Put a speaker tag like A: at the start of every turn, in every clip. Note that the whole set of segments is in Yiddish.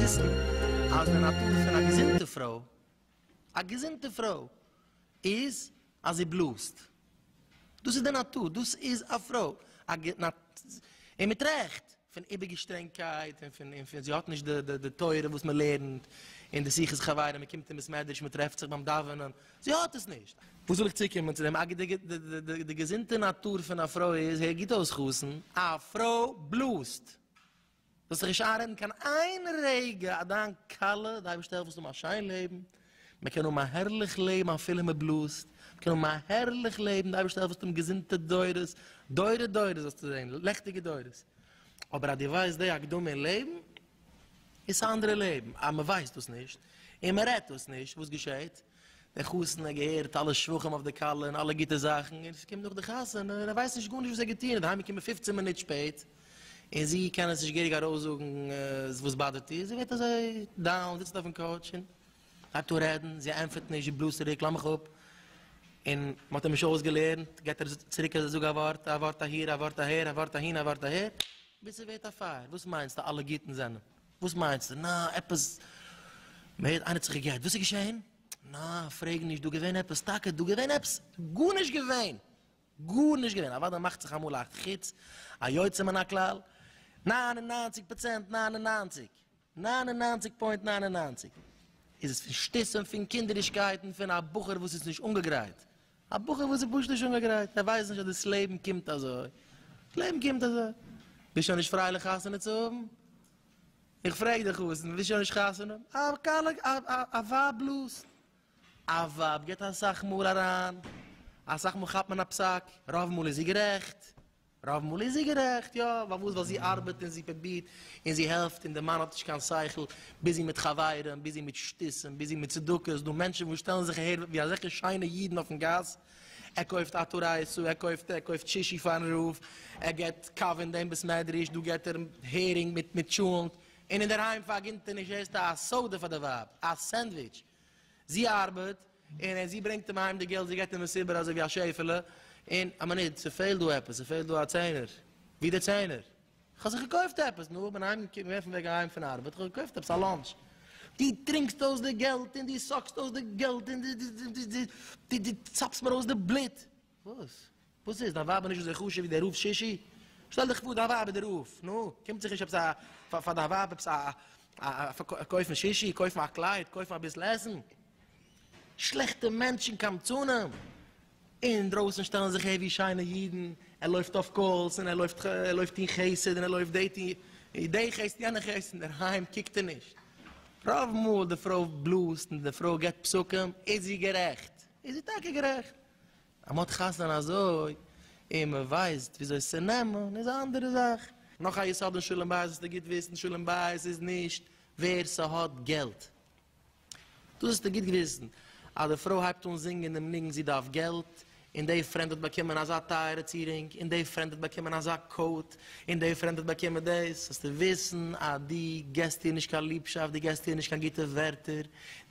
A: וויסן אז די נאטור פון א געזונטע פרוי א געזונטע פרוי איז אז זי בלאזט, דאס איז די נאטור, דאס איז א פרוי, און מיט רעכט, פון איבערגעשטרענגקייט און פון פון זי האט נישט די תורה וואס מען לערנט אין די שיחות חברים, מען קומט אין בית מדרש, מען טרעפט זיך ביים דאווענען, זי האט עס נישט. וואס וויל איך צוקומען צו דעם, די געזונטע נאטור פון א פרוי איז, הער גוט אויס חתן, א פרוי בלאזט, זאלסט זיך נישט איינרעדן קיין איין רגע אז דיין כלה, די אייבערשטער העלפט זאלסט האבן א שיין לעבן, מען קען האבן א הערליך לעבן אפילו מען בלאזט, מען קען האבן א הערליך לעבן, די אייבערשטער העלפט זאלסט האבן געזונטע דורות, דורי דורות זאלסטו זען, לעכטיגע דורות, אבער אז דו ווייסט די הקדמה אין לעבן, איז עס א אנדערע לעבן, אז מען ווייסט דאס נישט, און מען רעדט דאס נישט, וואס געשעט? דער חתן האט געהערט אלע שבחים אויף די כלה און אלע גוטע זאכן, און עס קומט נאך די חתונה און ער ווייסט נישט גארנישט וואס ער האט געטון, ער איז אהיימגעקומען פופצן מינוט שפעט, און זי קען עס נישט געהעריג ארויסזאגן וואס באדערט איר, זי ווערט אזוי דאון, זיצט אויפן קאוטש און הייבט אן רעדן, זי ענטפערט נישט, זי בלאזט צוריק, לאז מיך אפ, און מען האט אים נישט אויסגעלערנט, געט ער צוריק אז ער זאג א ווארט, א ווארט אהיר, א ווארט אהער, א ווארט אהין, א ווארט אהער, ביז ס'ווערט א פייער, וואס מיינסטו אלע גוטן זענען. וואס מיינסטו? נא, עפעס מער, איינער האט זיך געגעט? וואס איז געשעהן? נא, פרעג נישט, דא געווען עפעס, טאקע דא געווען עפעס? גארנישט געווען! גארנישט געווען! אוודאי מאכט זיך אמאל א חוץ, א יוצא מן הכלל, נײַן און נײַנציק פראצענט נײַן און נײַנציק, נײַן און נײַנציק פוינט נײַן און נײַנציק, איז עס פון שטות און פון קינדערישקייט און פון א בחור וואס איז נישט אנגעגרייט א בחור וואס איז פשוט נישט אנגעגרייט, ער ווייסט נישט אז דאס לעבן קומט אזוי, דאס לעבן קומט אזוי, ביסט שוין נישט פרייליך חתונה צו האבן? איך פרעג דיך אויס, ווילסט שוין נישט חתונה האבן? א ווייב בלאזט, א ווייב געבט אסאך מאל אריין, אסאך מאל כאפט מען א פסק, רוב מאל איז זי גערעכט, רוב מאל איז זי גערעכט, יא, פארוואס? ווייל זי ארבעט און זי פרובירט און זי העלפט און די מאן האט נישט קיין שכל, ביזי מיט חברים, ביזי מיט שטותים, ביזי מיט צדקות, דא מענטשן וואס שטעלן זיך אהער ווי אזעלכע שיינע אידן אויפן גאס, ער קויפט א טורייסא, ער קויפט ער קויפט שישי פארן רב, ער געבט קאווע אין דעם בית מדרש, דא געבט ער הערינג מיט טשולענט, און אינדערהיים פארגינט ער נישט עסט א סאדע פאר די ווייב, א סענדוויטש, זי ארבעט, און זי ברענגט אים אהיים די געלט, זי גייט אים עס איבער אזוי ווי א שעפעלע, און א מינוט, ס'פעלט דא עפעס, ס'פעלט דא א צענער, ווי די צענער? כ'האב זיך געקויפט עפעס, נו, כ'בין אהיים געקומען אויפן וועג אהיים פון ארבעט, כ'האב געקויפט עפעס א לאנטש. דו טרינקסט אויס די געלט, און דו סאקסט אויס די געלט, און דו צאפסט מיר אויס די בלוט. וואס? וואס איז? דיין ווייב איז נישט אזוי חשוב ווי דער רב שישי? שטעל דיך פאר דיין ווייב איז דער רב, נו, קומט זיך נישט עפעס א, פאר פאר דיין ווייב עפעס א, א א, קויפן שישי, קויפן א קלייד, קויפן אביסל עסן? שלעכטע מענטשן קמצנים! אינדרויסן שטעלן זיך העווי שיינע אידן, ער לויפט אויף קאלס, און ער לויפט, ער לויפט טון חסד, און ער לויפט דעי טון, דעי חסד, יענע חסד, אינדערהיים קוקט ער נישט. רוב מאל די פרוי בלאזט און די פרוי געבט פסקים, איז זי גערעכט, איז זי טאקע גערעכט. אז מ'האט חתונה אזוי און מ'ווייסט וויאזוי עס צו נעמען איז א אנדערע זאך. נאך א יסוד אין שלום בית זאלסטו גוט וויסן, שלום בית איז נישט ווער ס'האט געלט. דאס זאלסטו גוט וויסן, אז די פרוי הייבט אן זינגען דעם ניגון זי דארף געלט, און די פרענד האט באקומען אזא טייערע צירונג, און די פרענד האט באקומען אזא קאוט, און די פרענד האט באקומען דאס, זאלסטו וויסן אז דו געסט איר נישט קיין ליבשאפט, דו געסט איר נישט קיין גוטע ווערטער,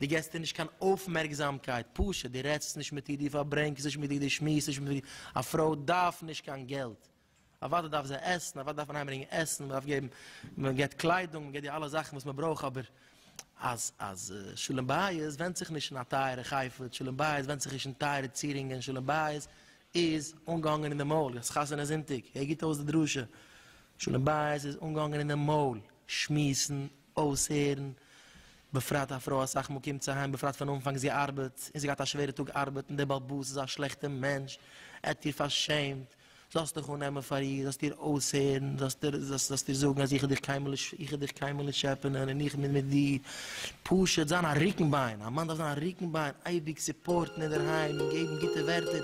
A: דו געסט איר נישט קיין אויפמערקזאמקייט, פשוט, דו רעדסט נישט מיט איר, דו פארברענגסט נישט מיט איר, דו שמועסט נישט מיט איר, א פרוי דארף נישט קיין געלט, אוודאי דארף זי עסן, אוודאי דארף מען אהיימברענגען עסן, מען דארף געבן, מען געבט קליידונג, מען געבט איר אלע זאכן וואס מען ברויך, אבער אז אז שלום בית ווענדט זיך נישט אין א טייערע חפץ, שלום בית ווענדט זיך נישט אין טייערע צירונגען, שלום בית איז אנגעהאנגען אין די מויל, דאס חתונה זונטאג, הער גוט אויס די דרשה, שלום בית איז אנגעהאנגען אין די מויל, שמועסן, אויסהערן, בפרט א פרוי אסאך מאל קומט זי אהיים בפרט פון אנפאנג זי ארבעט און זי געהאט א שווערע טאג ארבעט און דער באלבאס איז א שלעכטע מענטש, ער האט איר פארשעמט, זאלסט דיך אננעמען פאר איר, זאלסט איר אויסהערן, זאלסט איר זאגן אז איך האב דיך קיינמאל נישט איך האב דיך קיינמאל נישט טשעפענען און איך בין מיט דיר, פשוט זיין א רוקן ביין, א מאן דארף זיין א רוקן ביין, אייביג סופארטן אינדערהיים און געבן גוטע ווערטער.